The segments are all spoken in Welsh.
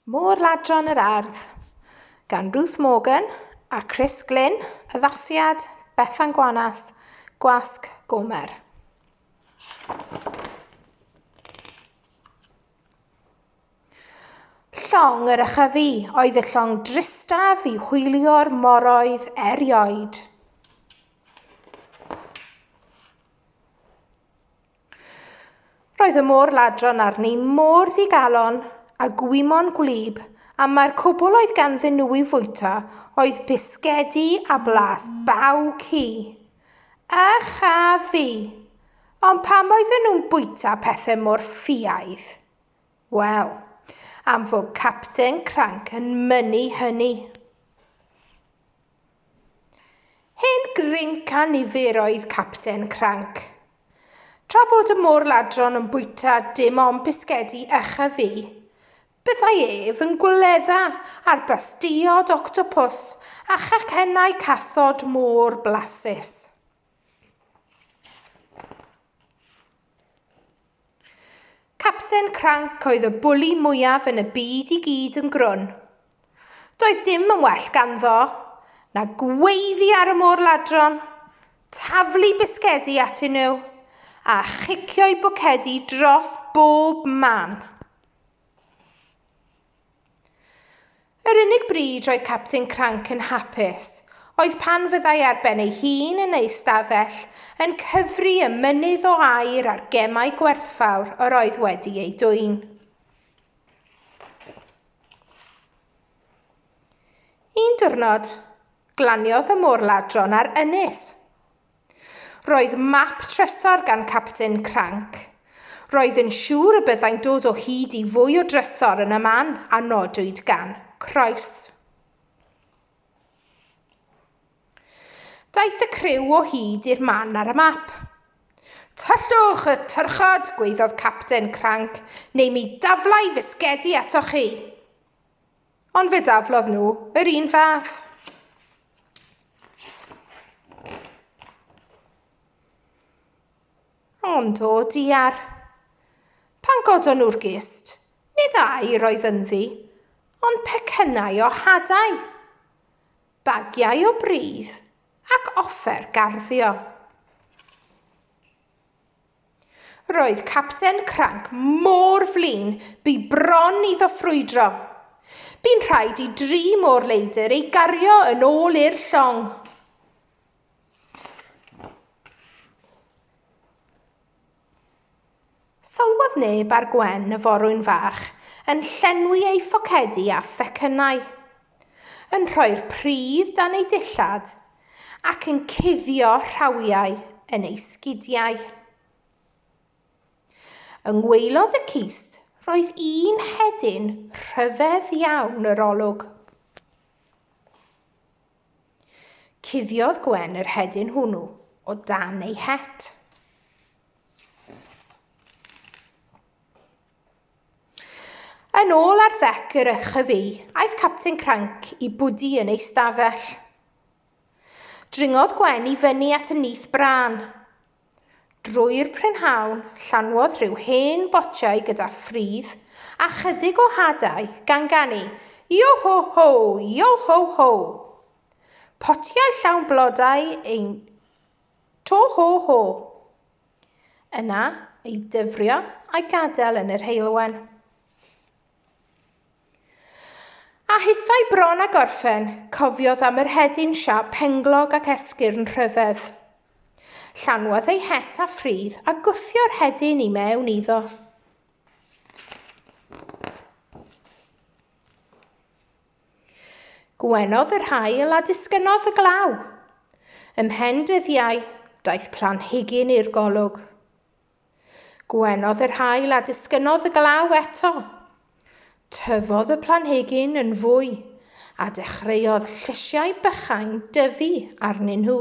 Môr Ladron yr Ardd, gan Ruth Morgan a Chris Glynn, addasiad Bethan Gwanas, Gwasg Gomer. Llong yr ychyfu oedd y llong dristaf i hwylio'r moroedd erioed. Roedd y môr ladron arni mor ddigalon a gwymon gwlyb a mae'r cwbl oedd ganddyn nhw i'w fwyta oedd bisgedi a blas baw ci. A cha fi! Ond pam oedden nhw'n bwyta pethau mor ffiaidd? Wel, am fod Capten Cranc yn mynnu hynny. Hen grinc a nifer oedd Capten Cranc. Tra bod y môr ladron yn bwyta dim ond bisgedi echa fi, byddai ef yn gwledda ar bastiod octopws a chacennau cathod môr blasus. Capten Cranc oedd y bwli mwyaf yn y byd i gyd yn grwn. Doedd dim yn well ganddo na gweiddi ar y môr ladron, taflu bisgedi atyn nhw a chicio'i bwcedi dros bob man. Yr unig bryd roedd Capten Cranc yn hapus oedd pan fyddai ar ben ei hun yn ei stafell yn cyfri y mynydd o air a'r gemau gwerthfawr yr oedd wedi eu dwyn. Un diwrnod, glaniodd y môr ladron ar ynys. Roedd map trysor gan Capten Cranc. Roedd yn siŵr y byddai'n dod o hyd i fwy o drysor yn y man a nodwyd gan Croes. Daeth y criw o hyd i'r man ar y map. Tyllwch y tyrchod, gweiddodd Capten Cranc, neu mi daflai fisgedi atoch chi. Ond fe daflodd nhw yr un fath. Ond o diar. Pan godon nhw'r gist, nid ai roedd ynddi, ond pecynnau o hadau, bagiau o bridd ac offer garddio. Roedd Capten Cranc mor flin, bu bron iddo ffrwydro. Bu'n rhaid i dri môr leidr ei gario yn ôl i'r llong. Sylwodd neb ar Gwen y forwyn fach yn llenwi ei phocedi â phecynnau. yn rhoi'r pridd dan ei dillad ac yn cuddio rhawiau yn ei sgidiau. Yng ngwaelod y cist roedd un hedyn rhyfedd iawn yr olwg. Cuddiodd Gwen yr hedyn hwnnw o dan ei het. Yn ôl ar ddec yr YHV, aeth Capten Cranc i bwdi yn ei stafell. Dringodd Gwen i fyny at y nyth brân. Drwy'r prynhawn, llanwodd rhyw hen botiau gyda ffridd a chydig o hadau gan ganu Yo-ho-ho, yo-ho-ho! Potiau llawn blodau ein to-ho-ho! Yna, ei dyfrio a'i gadael yn yr heulwen. A hithau bron a gorffen, cofiodd am yr hedyn siap penglog ac esgyrn rhyfedd. Llanwodd ei het a ffridd a gwthio'r hedyn i mewn iddo. Gwenodd yr haul a disgynnodd y glaw. Ymhen dyddiau, daeth planhigyn i'r golwg. Gwenodd yr haul a disgynnodd y glaw eto. Tyfodd y planhigyn yn fwy a dechreuodd llysiau bychain dyfu arnyn nhw.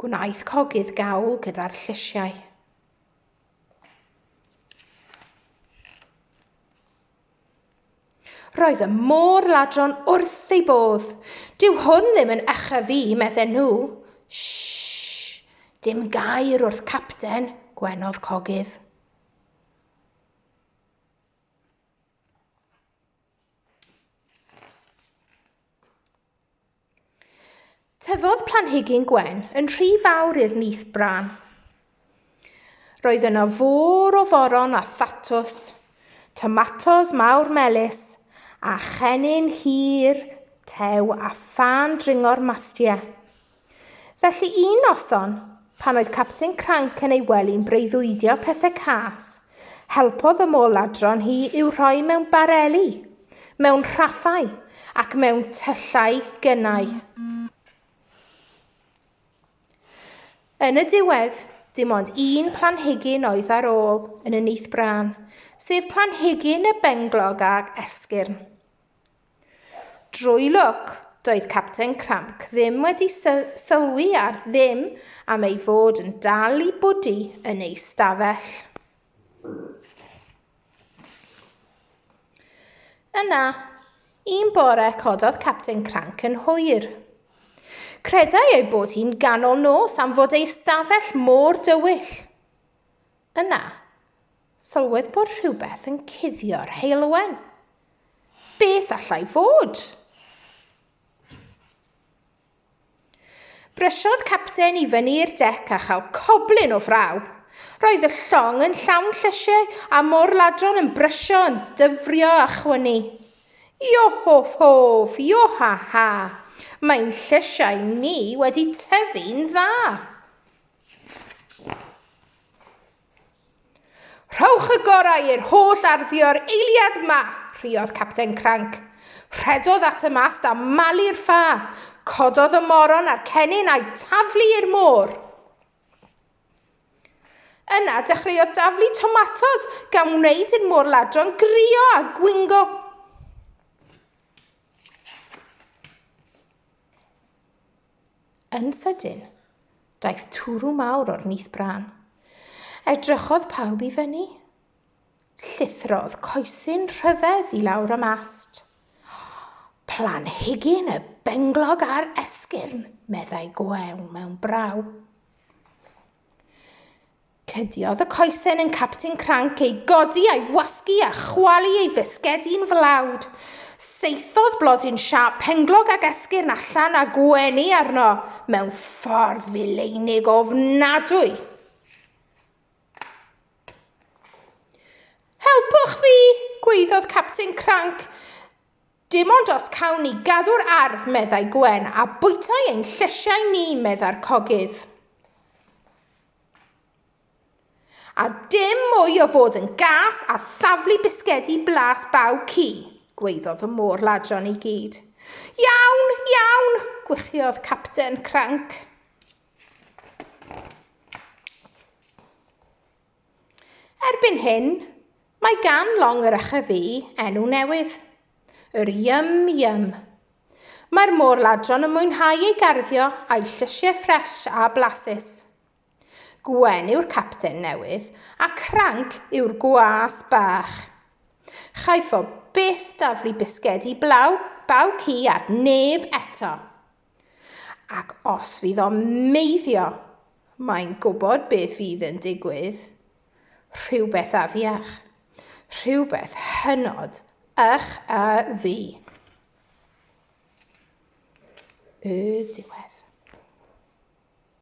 Gwnaeth cogydd gawl gyda'r llysiau. Roedd y môr ladron wrth ei bodd. Dyw hwn ddim yn echa fi, medden nhw. Shhh! Dim gair wrth capten, gwenodd cogydd. Tyfodd planhigyn gwen yn rhy fawr i'r nyth bran. Roedd yno fôr o foron a thatws, tomatos mawr melys, a chennin hir tew a phan dringo'r mastie. Felly un noson, Pan oedd Capten Cranc yn ei wely'n breuddwydio pethe cas, helpodd y mol ladron hi i'w rhoi mewn bareli, mewn rhaffau, ac mewn tyllau gynnau. Yn y diwedd, dim ond un planhigyn oedd ar ôl yn y nyth brân, sef planhigyn y benglog ag esgyrn. Drwy lwc, doedd Capten Cranc ddim wedi sylwi ar ddim am ei fod yn dal i bwdu yn ei stafell. Yna, un bore cododd Capten Cranc yn hwyr. Credai ei bod hi'n ganol nos am fod ei stafell mor dywyll. Yna, Sylwedd bod rhywbeth yn cuddio'r heulwen. Beth allai fod? Brysiodd capten i fyny'r dec a chael coblyn o fraw. Roedd y llong yn llawn llysiau a mor ladron yn brysio yn dyfrio a chwynu. Iohof hof, ioha ha, mae'n llysiau ni wedi tyfu'n dda. Rhowch y gorau i'r holl arddio'r eiliad yma, rhuodd Capten Cranc. Rhedodd at y mast a malu'r ffa, cododd y moron a'r cennin a'i taflu i'r môr. Yna dechreuodd daflu tomatos gan wneud i'r môr ladron grio a gwingo. Yn sydyn, daeth twrw mawr o'r nyth brân. Edrychodd pawb i fyny. Llithrodd coesyn rhyfedd i lawr y mast. Planhigyn y benglog a'r esgyrn, meddai Goew mewn braw. Cydiodd y coesen yn Capten Cranc ei godi a'i wasgu a chwalu ei fisgedi'n flawd. Saethodd blodyn siâp penglog ag esgyrn allan a gwenu arno mewn ffordd fileinig ofnadwy. Helpwch fi! gwaeddodd Capten Cranc. Dim ond os cawn ni gadw'r ardd, meddai Gwen, a bwytai ein llesiau ni, meddai'r cogydd. A dim mwy o fod yn gas a thaflu bisgedi blas baw ci, gwaeddodd y môr ladron i gyd. Iawn, iawn, gwychiodd Capten Cranc. Erbyn hyn, Mae gan long yr Echefi enw newydd, yr Yum Yum. Mae'r môr-ladron yn mwynhau ei garddio a'i llysiau ffres a blasus. Gwen yw'r capten newydd a Cranc yw'r gwas bach. Chaiff o byth daflu bisgedi blaw baw ci ar neb eto. Ac os fydd o'n meiddio, mae'n gwybod beth fydd yn digwydd. Rhywbeth afiach. Rhywbeth hynod ych a fi. Y diwedd.